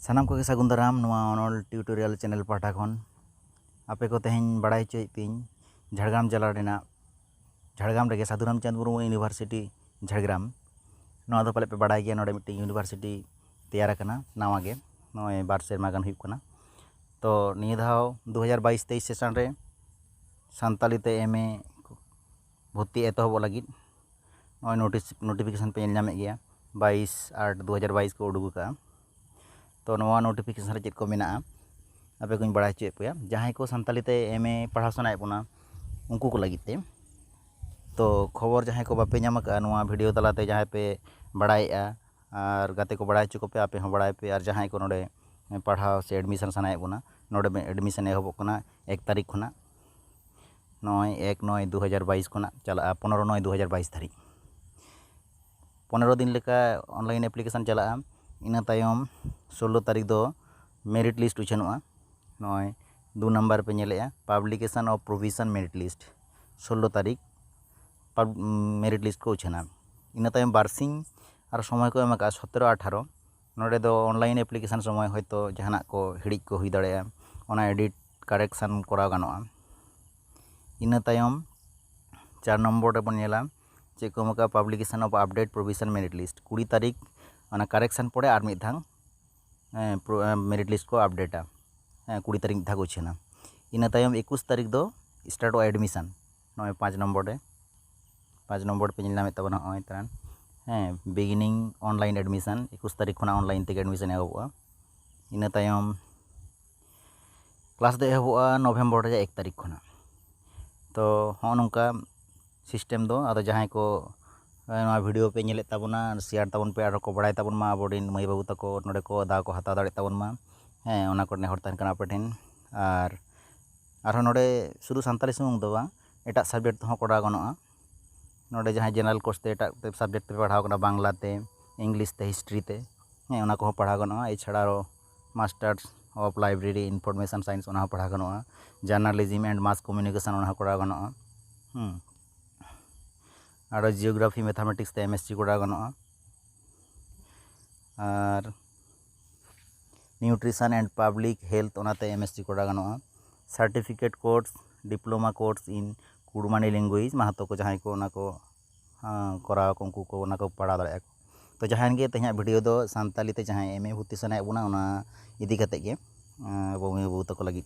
ᱥᱟᱱᱟᱢ ᱠᱚᱜᱮ ᱥᱟᱹᱜᱩᱱ ᱫᱟᱨᱟᱢ ᱱᱚᱣᱟ ᱚᱱᱚᱞ ᱴᱤᱭᱩᱴᱳᱨᱤᱭᱟᱞ ᱪᱮᱱᱮᱞ ᱯᱟᱦᱴᱟ ᱠᱷᱚᱱ ᱟᱯᱮ ᱠᱚ ᱛᱮᱦᱮᱧ ᱵᱟᱲᱟᱭ ᱦᱚᱪᱚᱭᱮᱫ ᱯᱮᱭᱟᱹᱧ ᱡᱷᱟᱲᱜᱨᱟᱢ ᱡᱮᱞᱟ ᱨᱮᱱᱟᱜ ᱡᱷᱟᱲᱜᱨᱟᱢ ᱨᱮᱜᱮ ᱥᱟᱹᱫᱷᱩ ᱨᱟᱢᱪᱟᱸᱫᱽ ᱢᱩᱨᱢᱩ ᱤᱭᱩᱱᱤᱵᱷᱟᱨᱥᱤᱴᱤ ᱡᱷᱟᱲᱜᱨᱟᱢ ᱱᱚᱣᱟ ᱫᱚ ᱯᱟᱞᱮᱫ ᱯᱮ ᱵᱟᱲᱟᱭ ᱜᱮᱭᱟ ᱱᱚᱰᱮ ᱢᱤᱫᱴᱮᱱ ᱤᱭᱩᱱᱤᱵᱷᱟᱨᱥᱤᱴᱤ ᱛᱮᱭᱟᱨ ᱟᱠᱟᱱᱟ ᱱᱟᱣᱟ ᱜᱮ ᱱᱚᱜᱼᱚᱭ ᱵᱟᱨ ᱥᱮᱨᱢᱟ ᱜᱟᱱ ᱦᱩᱭᱩᱜ ᱠᱟᱱᱟ ᱛᱚ ᱱᱤᱭᱟᱹ ᱫᱷᱟᱣ ᱫᱩ ᱦᱟᱡᱟᱨ ᱵᱟᱭᱤᱥ ᱛᱮᱭᱤᱥ ᱥᱮᱥᱚᱱ ᱨᱮ ᱥᱟᱱᱛᱟᱲᱤ ᱛᱮ ᱮᱢ ᱮ ᱵᱷᱚᱨᱛᱤ ᱮᱛᱚᱦᱚᱵᱚᱜ ᱞᱟᱹᱜᱤᱫ ᱱᱚᱜᱼᱚᱭ ᱱᱳᱴᱤᱥ ᱱᱳᱴᱤᱯᱷᱤᱠᱮᱥᱚᱱ ᱯᱮ ᱧᱮᱞ ᱧᱟᱢᱮᱫ ᱜᱮᱭᱟ ᱵᱟᱭᱤᱥ ᱟᱴ ᱫᱩ ᱦᱟᱡᱟᱨ ᱵᱟᱭᱤᱥ ᱠᱚ ᱩᱰᱩᱠ ᱟᱠᱟᱫᱼᱟ ᱛᱳ ᱱᱚᱣᱟ ᱱᱳᱴᱤᱯᱷᱤᱠᱮᱥᱚᱱ ᱨᱮ ᱪᱮᱫ ᱠᱚ ᱢᱮᱱᱟᱜᱼᱟ ᱟᱯᱮ ᱠᱚᱧ ᱵᱟᱲᱟᱭ ᱦᱚᱪᱚᱭᱮᱫ ᱯᱮᱭᱟ ᱡᱟᱦᱟᱸᱭ ᱠᱚ ᱥᱟᱱᱛᱟᱲᱤ ᱛᱮ ᱮᱢ ᱮ ᱯᱟᱲᱦᱟᱣ ᱥᱟᱱᱟᱭᱮᱫ ᱵᱚᱱᱟ ᱩᱱᱠᱩ ᱠᱚ ᱞᱟᱹᱜᱤᱫ ᱛᱮ ᱛᱳ ᱠᱷᱚᱵᱚᱨ ᱡᱟᱦᱟᱸᱭ ᱠᱚ ᱵᱟᱯᱮ ᱧᱟᱢ ᱟᱠᱟᱫᱼᱟ ᱱᱚᱣᱟ ᱵᱷᱤᱰᱤᱭᱳ ᱛᱟᱞᱟᱛᱮ ᱡᱟᱦᱟᱸᱭ ᱯᱮ ᱵᱟᱲᱟᱭᱮᱫᱼᱟ ᱟᱨ ᱜᱟᱛᱮ ᱠᱚ ᱵᱟᱲᱟᱭ ᱦᱚᱪᱚ ᱠᱚᱯᱮ ᱟᱯᱮ ᱦᱚᱸ ᱵᱟᱲᱟᱭ ᱯᱮ ᱟᱨ ᱡᱟᱦᱟᱸᱭ ᱠᱚ ᱱᱚᱰᱮ ᱯᱟᱲᱦᱟᱣ ᱥᱮ ᱮᱰᱢᱤᱥᱚᱱ ᱥᱟᱱᱟᱭᱮᱫ ᱵᱚᱱᱟ ᱱᱚᱰᱮ ᱮᱰᱢᱤᱥᱚᱱ ᱮᱦᱚᱵᱚᱜ ᱠᱟᱱᱟ ᱮᱠ ᱛᱟᱹᱨᱤᱠᱷ ᱠᱷᱚᱱᱟᱜ ᱱᱚᱜᱼᱚᱭ ᱮᱠ ᱱᱚᱭ ᱫᱩ ᱦᱟᱡᱟᱨ ᱵᱟᱭᱤᱥ ᱠᱷᱚᱱᱟᱜ ᱪᱟᱞᱟᱜᱼᱟ ᱯᱚᱱᱨᱚ ᱱᱚᱭ ᱫᱩ ᱦᱟᱡᱟᱨ ᱵᱟᱭᱤᱥ ᱫᱷᱟᱹᱨᱤᱡ ᱯᱚᱱᱨᱚ ᱫᱤᱱ ᱞᱮᱠᱟ ᱚᱱᱞᱟᱭᱤᱱ ᱮᱯᱞᱤᱠᱮᱥᱚᱱ ᱪᱟᱞᱟᱜᱼᱟ ᱤᱱᱟᱹ ᱛᱟᱭᱚᱢ ᱥᱳᱞᱞᱳ ᱛᱟᱹᱨᱤᱠᱷ ᱫᱚ ᱢᱮᱨᱤᱴ ᱞᱤᱥᱴ ᱩᱪᱷᱟᱹᱱᱚᱜᱼᱟ ᱱᱚᱜᱼᱚᱭ ᱫᱩ ᱱᱟᱢᱵᱟᱨ ᱯᱮ ᱧᱮᱞᱮᱫᱼᱟ publication of provision merit list ᱥᱳᱞᱞᱳ ᱛᱟᱹᱨᱤᱠᱷ ᱢᱮᱨᱤᱴ ᱞᱤᱥᱴ ᱠᱚ ᱩᱪᱷᱟᱹᱱᱟ ᱤᱱᱟᱹ ᱛᱟᱭᱚᱢ ᱵᱟᱨ ᱥᱤᱧ ᱟᱨ ᱥᱚᱢᱚᱭ ᱠᱚ ᱮᱢ ᱠᱟᱜᱼᱟ ᱥᱚᱛᱨᱚ ᱟᱴᱷᱟᱨᱚ ᱱᱚᱰᱮ ᱫᱚ ᱚᱱᱞᱟᱭᱤᱱ ᱮᱯᱞᱤᱠᱮᱥᱚᱱ ᱥᱚᱢᱚᱭ ᱦᱚᱭᱛᱳ ᱡᱟᱦᱟᱱᱟᱜ ᱠᱚ ᱦᱤᱲᱤᱡ ᱠᱚ ᱦᱩᱭ ᱫᱟᱲᱮᱭᱟᱜᱼᱟ ᱚᱱᱟ ᱮᱰᱤᱴ ᱠᱟᱨᱮᱠᱥᱚᱱ ᱠᱚᱨᱟᱣ ᱜᱟᱱᱚᱜᱼᱟ ᱤᱱᱟᱹ ᱛᱟᱭᱚᱢ ᱪᱟᱨ ᱱᱚᱢᱵᱚᱨ ᱨᱮᱵᱚᱱ ᱧᱮᱞᱟ ᱪᱮᱫ ᱠᱚ ᱮᱢ ᱠᱟᱜᱼᱟ publication of update provision merit list ᱠᱩᱲᱤ ᱛᱟᱹᱨᱤᱠᱷ ᱚᱱᱟ ᱠᱟᱨᱮᱠᱥᱚᱱ ᱯᱚᱨᱮ ᱟᱨ ᱢᱤᱫ ᱫᱷᱟᱣ ᱢᱮᱨᱤᱴ ᱞᱤᱥᱴ ᱠᱚ ᱟᱯᱰᱮᱴᱟ ᱠᱩᱲᱤ ᱛᱟᱹᱨᱤᱠᱷ ᱢᱤᱫ ᱫᱷᱟᱣ ᱠᱚ ᱩᱪᱷᱟᱹᱱᱟ ᱤᱱᱟᱹ ᱛᱟᱭᱚᱢ ᱮᱠᱩᱥ ᱛᱟᱹᱨᱤᱠᱷ ᱫᱚ ᱥᱴᱟᱨᱴᱚᱜᱼᱟ ᱮᱰᱢᱤᱥᱚᱱ ᱱᱚᱜᱼᱚᱭ ᱯᱟᱸᱪ ᱱᱚᱢᱵᱚᱨ ᱨᱮ ᱯᱟᱸᱪ ᱱᱚᱢᱵᱚᱨ ᱯᱮ ᱧᱮᱞ ᱧᱟᱢᱮᱫ ᱛᱟᱵᱚᱱᱟ ᱱᱚᱜᱼᱚᱭ ᱛᱟᱨᱟ ᱦᱮᱸ ᱵᱤᱜᱤᱱᱤᱝ ᱚᱱᱞᱟᱭᱤᱱ ᱮᱰᱢᱤᱥᱚᱱ ᱮᱠᱩᱥ ᱛᱟᱹᱨᱤᱠᱷ ᱠᱷᱚᱱᱟᱜ ᱚᱱᱞᱟᱭᱤᱱ ᱛᱮᱜᱮ ᱮᱰᱢᱤᱥᱚᱱ ᱮᱦᱚᱵᱚᱜᱼᱟ ᱤᱱᱟᱹ ᱛᱟᱭᱚᱢ ᱠᱞᱟᱥ ᱫᱚ ᱮᱦᱚᱵᱚᱜᱼᱟ ᱱᱚᱵᱷᱮᱢᱵᱚᱨ ᱨᱮᱭᱟᱜ ᱮᱠ ᱛᱟᱹᱨᱤᱠᱷ ᱠᱷᱚᱱᱟᱜ ᱛᱚ ᱦᱚᱸᱜᱼᱚ ᱱᱚᱝᱠᱟ ᱥᱤᱥᱴᱮᱢ ᱫᱚ ᱟᱫᱚ ᱡᱟᱦᱟᱸᱭ ᱠᱚ ᱱᱚᱣᱟ ᱵᱷᱤᱰᱭᱳ ᱯᱮ ᱧᱮᱞᱮᱫ ᱛᱟᱵᱚᱱᱟ ᱥᱮᱭᱟᱨ ᱛᱟᱵᱚᱱ ᱯᱮ ᱟᱨᱦᱚᱸ ᱠᱚ ᱵᱟᱲᱟᱭ ᱛᱟᱵᱚᱱ ᱢᱟ ᱟᱵᱚ ᱨᱮᱱ ᱢᱟᱹᱭ ᱵᱟᱹᱵᱩ ᱛᱟᱠᱚ ᱱᱚᱰᱮ ᱠᱚ ᱫᱟᱣ ᱠᱚ ᱦᱟᱛᱟᱣ ᱫᱟᱲᱮᱭᱟᱜ ᱛᱟᱵᱚᱱ ᱢᱟ ᱦᱮᱸ ᱚᱱᱟ ᱠᱚ ᱱᱮᱦᱚᱨ ᱛᱟᱦᱮᱱ ᱠᱟᱱᱟ ᱟᱯᱮ ᱴᱷᱮᱱ ᱟᱨ ᱟᱨᱦᱚᱸ ᱱᱚᱰᱮ ᱥᱩᱫᱷᱩ ᱥᱟᱱᱛᱟᱲᱤ ᱥᱩᱢᱩᱝ ᱫᱚ ᱵᱟᱝ ᱮᱴᱟᱜ ᱥᱟᱵᱽᱡᱮᱠᱴ ᱛᱮᱦᱚᱸ ᱠᱚᱨᱟᱣ ᱜᱟᱱᱚᱜᱼᱟ ᱱᱚᱰᱮ ᱡᱟᱦᱟᱸᱭ ᱡᱮᱱᱟᱨᱮᱞ ᱠᱳᱨᱥ ᱛᱮ ᱮᱴᱟᱜ ᱥᱟᱵᱽᱡᱮᱠᱴ ᱛᱮᱯᱮ ᱯᱟᱲᱦᱟᱣ ᱠᱟᱱᱟ ᱵᱟᱝᱞᱟ ᱛᱮ ᱤᱝᱞᱤᱥ ᱛᱮ ᱦᱤᱥᱴᱨᱤ ᱛᱮ ᱦᱮᱸ ᱚᱱᱟ ᱠᱚᱦᱚᱸ ᱯᱟᱲᱦᱟᱣ ᱜᱟᱱᱚᱜᱼᱟ ᱮᱪᱷᱟᱲᱟ ᱟᱨᱚ masters of library information science ᱚᱱᱟ ᱦᱚᱸ ᱯᱟᱲᱦᱟᱣ ᱜᱟᱱᱚᱜᱼᱟ ᱡᱟᱨᱱᱟᱞᱤᱡᱤᱢ ᱮᱱᱰ ᱢᱟᱥ ᱠᱚᱢᱤᱭᱩᱱᱤᱠᱮᱥᱚᱱ ᱚᱱᱟ ᱦᱚᱸ ᱠᱚᱨᱟᱣ ᱜᱟᱱᱚᱜᱼᱟ ᱦᱮᱸ ᱟᱨᱚ ᱡᱤᱭᱳᱜᱨᱟᱯᱷᱤ ᱢᱮᱛᱷᱟᱢᱮᱴᱤᱠᱥ ᱛᱮ ᱮᱢ ᱮᱥ ᱥᱤ ᱠᱚᱨᱟᱣ ᱜᱟᱱᱚᱜᱼᱟ ᱟᱨ ᱱᱤᱭᱩᱴᱨᱤᱥᱚᱱ ᱮᱱᱰ ᱯᱟᱵᱽᱞᱤᱠ ᱦᱮᱞᱛᱷ ᱚᱱᱟ ᱛᱮ ᱮᱢ ᱮᱥ ᱥᱤ ᱠᱚᱨᱟᱣ ᱜᱟᱱᱚᱜᱼᱟ certificate course diploma course in Kurmali language ᱢᱟᱦᱟᱛᱚ ᱠᱚ ᱡᱟᱦᱟᱸᱭ ᱠᱚ ᱚᱱᱟ ᱠᱚ ᱠᱚᱨᱟᱣ ᱟᱠᱚ ᱩᱱᱠᱩ ᱠᱚ ᱚᱱᱟ ᱠᱚ ᱯᱟᱲᱦᱟᱣ ᱫᱟᱲᱮᱭᱟᱜᱼᱟ ᱛᱚ ᱡᱟᱦᱟᱸᱭ ᱜᱮ ᱛᱮᱦᱮᱧᱟᱜ ᱵᱷᱤᱰᱤᱭᱳ ᱫᱚ ᱥᱟᱱᱛᱟᱲᱤ ᱛᱮ ᱡᱟᱦᱟᱸᱭ ᱮᱢ ᱮ ᱵᱷᱚᱨᱛᱤ ᱥᱟᱱᱟᱭᱮᱫ ᱵᱚᱱᱟ ᱚᱱᱟ ᱤᱫᱤ ᱠᱟᱛᱮᱫ ᱜᱮ ᱟᱵᱚ ᱢᱟᱹᱭ ᱵᱟᱹᱵᱩ ᱛᱟᱠᱚ ᱞᱟᱹᱜᱤᱫ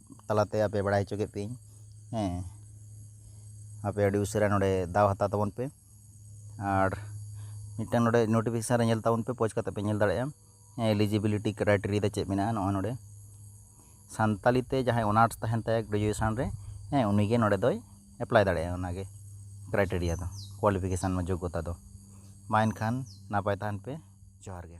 ᱛᱟᱞᱟᱛᱮ ᱟᱯᱮ ᱵᱟᱲᱟᱭ ᱦᱚᱪᱚ ᱠᱮᱫ ᱯᱮᱭᱟᱹᱧ ᱦᱮᱸ ᱟᱯᱮ ᱟᱹᱰᱤ ᱩᱥᱟᱹᱨᱟ ᱱᱚᱰᱮ ᱫᱟᱣ ᱦᱟᱛᱟᱣ ᱛᱟᱵᱚᱱ ᱯᱮ ᱟᱨ ᱢᱤᱫᱴᱟᱱ ᱱᱚᱰᱮ ᱱᱳᱴᱤᱯᱷᱤᱠᱮᱥᱚᱱ ᱨᱮ ᱧᱮᱞ ᱛᱟᱵᱚᱱ ᱯᱮ ᱯᱳᱡᱽ ᱠᱟᱛᱮᱫ ᱯᱮ ᱧᱮᱞ ᱫᱟᱲᱮᱭᱟᱜᱼᱟ ᱦᱮᱸ ᱮᱞᱤᱡᱤᱵᱤᱞᱤᱴᱤ ᱠᱨᱟᱭᱴᱮᱨᱤᱭᱟ ᱫᱚ ᱪᱮᱫ ᱢᱮᱱᱟᱜᱼᱟ ᱱᱚᱜᱼᱚᱭ ᱱᱚᱰᱮ ᱥᱟᱱᱛᱟᱲᱤ ᱛᱮ ᱡᱟᱦᱟᱸᱭ ᱚᱱᱟᱨᱥ ᱛᱟᱦᱮᱱ ᱛᱟᱭᱟ ᱜᱨᱮᱡᱩᱭᱮᱥᱚᱱ ᱨᱮ ᱦᱮᱸ ᱩᱱᱤᱜᱮ ᱱᱚᱰᱮ ᱫᱚᱭ ᱮᱯᱞᱟᱭ ᱫᱟᱲᱮᱭᱟᱜᱼᱟ ᱚᱱᱟᱜᱮ ᱠᱨᱟᱭᱴᱮᱨᱤᱭᱟ ᱫᱚ ᱠᱚᱣᱟᱞᱤᱯᱷᱤᱠᱮᱥᱚᱱ ᱡᱳᱜᱽᱜᱚᱛᱟ ᱫᱚ ᱢᱟ ᱮᱱᱠᱷᱟᱱ ᱱᱟᱯᱟᱭ ᱛᱟᱦᱮᱱ ᱯᱮ ᱡᱚᱦᱟᱨ ᱜᱮ